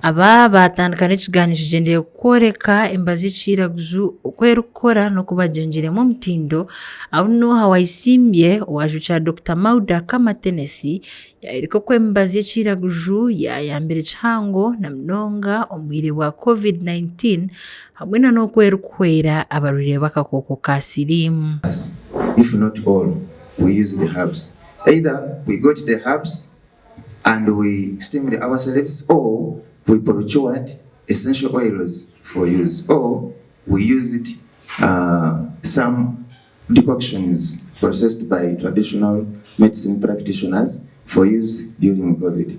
Aba baatandika n'ekigaanizo kigyendeire kworeka emibazi y'ekiiraguju oku erikukora n'oku bagyengiiremu omutindo. Abu nuho Waisimbye owaajukira Dokita Mauda Kama Tenesi Yayoreka oku emibazi y'ekiiraguju yaayambire kihango na munonga omu bwire bwa Covid-19 hamwe na n'oku erikuhwera abarwaire b'akakooko ka siriimu. Decoctions processed by traditional medicine practitioners for use during Covid.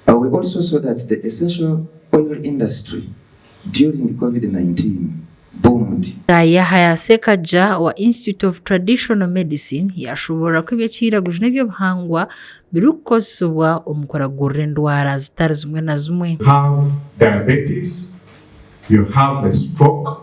We also saw that the essential oil industry during Covid 19 boomed. Yahaya Sekaggya owa Institute of Traditional Medicine yaashoboorora ku eby'ekiiraguju n'eby'obuhangwa birikukozesibwa omu kuragurira endwara zitari zimwe na zimwe. have diabetes, you have a stroke.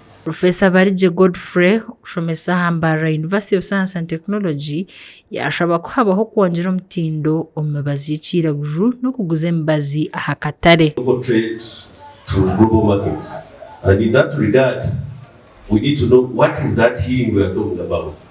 Profesa Barigye Godfrey okushomesa aha Mbarara University of Science and Technology yashaba ku habaho okwongyera omutindo omu mibazi y'ekiiraguju n'okuguza emibazi aha katare. Local trade to global markets and in that regard we need to know what is that healing we are talking about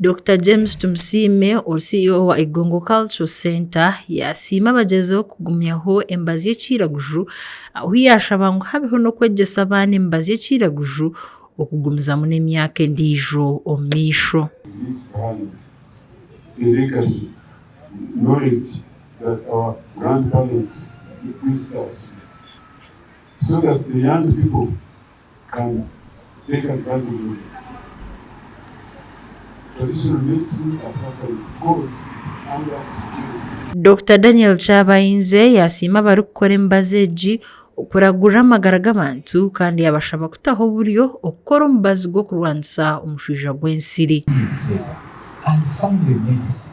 Dokita James Tumusiime ori CEO wa Igongo Cultural Centre yaasiima abagyezeho kugumyaho emibazi y'ekiiraguju ahu yaashaba ngu habeho n'okwegyesa abaana emibazi y'ekiiraguju okugumizamu n'emyaka endiijo omu maisho. Leave behind a legacy and knowledge that our grandparents did this task so that the young people. Kare, teeka bigambire omu mutwe. Traditional medicine are suffering because it's under stress. Dokita Daniel Kyabainzye yasiima abarikukora emibazi egi okuragurira amagara g'abantu kandi yabashaba kutaho oburyo okukora omubazi gw'okurwanisa omushwija gw'ensiri. Pure feather and find a medicine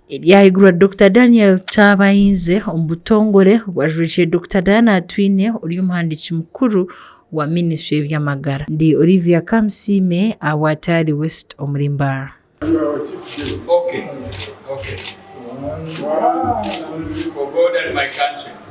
Ebyahigurwa Dokita Daniel Kyabainze omu butongore obwajurikire Dokita Diana Atwine ori omuhandiiki mukuru wa minisitule y'ebyamagara. Ndi Olivia Kamusiime aha bwa Tayari West omuri Mbaara.